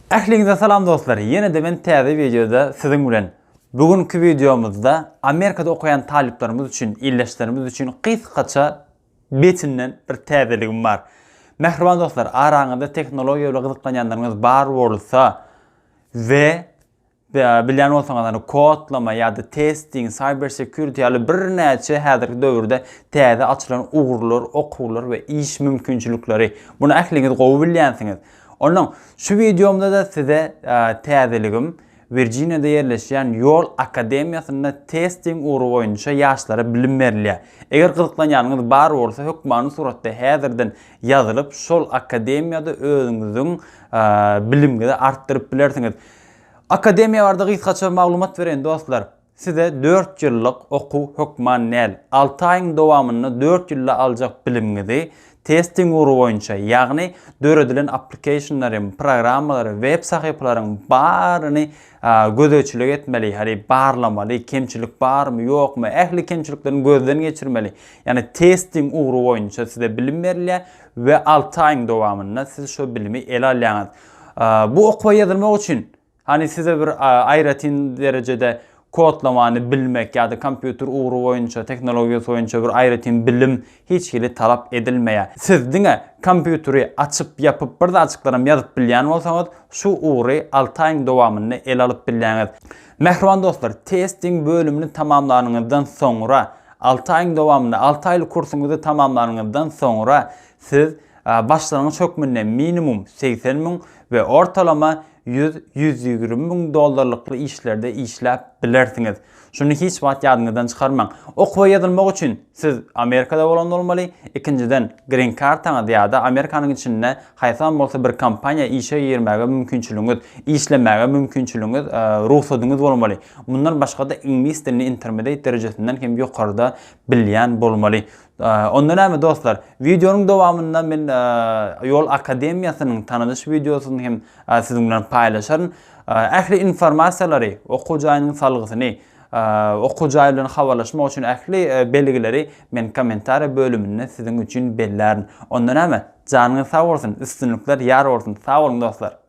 Ähliňize salam dostlar ýene-de men täze wideoda siziň bilen. Bu günki wideomyzda Amerikada okaýan talyplarymyz üçin, ildeşlerimiz üçin gysgaça betinden bir täzeligim bar. Mähriban dostlar araňyzda tehnologiýa bilen gyzyklanýanlaryňyz bar bolsa we Bilýän bolsaňyzlar, kodlama ýa-da testing, cyber security ýaly birnäçe häzirki döwürde täze açylan ugurlar, okuwlar we iş mümkinçilikleri. Muny ähliňiz gowy bilýänsiňiz. Onnoň şu wideomda-da size täzeligim, Wirjiniýada ýerleşýän Ýol akademiýasynda testing ugry boýunça ýaşlara bilim berilýär. Eger gyzyklanýanyňyz bar bolsa, hökmany suratda häzirden ýazylyp, şol akademiýada özüňiziň bilimňizi artdyryp bilersiňiz. Akademiýa barada gysgaça maglumat bereýin dostlar. Size dört ýyllyk okuw hökman däl, alty aýyň dowamynda dört ýylda aljak bilimiňizi testing ugry boýunça, ýagny döredilen applicationlary, programmalary, web sahypalaryň baryny gözegçilik etmeli, hany barlamaly, kemçilik barmy, ýokmy, ähli kemçiliklerini gözden geçirmeli. Ýagny testing ugry boýunça size bilim berilýär we alty aýyň dowamynda siz şo bilimi ele alýaňyz. Bu okuwa ýazylmak üçin hany size bir aýratyn derejede kodlamany bilmek ýa-da kompýuter ugry boýunça, tehnologiýasy boýunça bir aýratyn bilim hiç hili talap edilmeýär. Siz diňe kompýuteri açyp, ýapyp bir zatjyklaram ýazyp bilýän bolsaňyz, şu ugry alty aýyň dowamynda ele alyp bilýäňiz. Mähriban dostlar, testiň bölümini tamamlanyňyzdan soňra, alty aýyň dowamynda, alty aýlyk kursuňyzy tamamlanyňyzdan soňra siz Başlangyç hökmünde minimum segsen müň we ortalama ýüz, ýüz ýigrimi müň dollarlykly işlerde işläp bilersiňiz. Şuny hiç wagt ýadyňyzdan çykarmaň. Okuwa ýazylmak üçin siz Amerikada bolan bolmaly, ikinjiden, grin kartaňyz ýa-da Amerikanyň içinde haýsam bolsa bir kompaniýa işe girmäge mümkinçiligiňiz, işlemäge mümkinçiligiňiz, rugsadyňyz bolmaly. Mundan başga-da iňlis dilini intermediate derejesinden hem ýokarda bilýän bolmaly. Onda näme dostlar, wideonyň dowamynda men Ýol akademiýasynyň tanadyş wideosyny hem siziň bilen paýlaşaryn. Ähli informasiýalary, okuw jaýynyň salgysyny, okuw jaý bilen habarlaşmak üçin ähli belgileri men kommentariýa bölüminde siziň üçin bellärin. Onda näme, janyňyz sag bolsun, üstünlikler ýar bolsun. Sag boluň dostlar.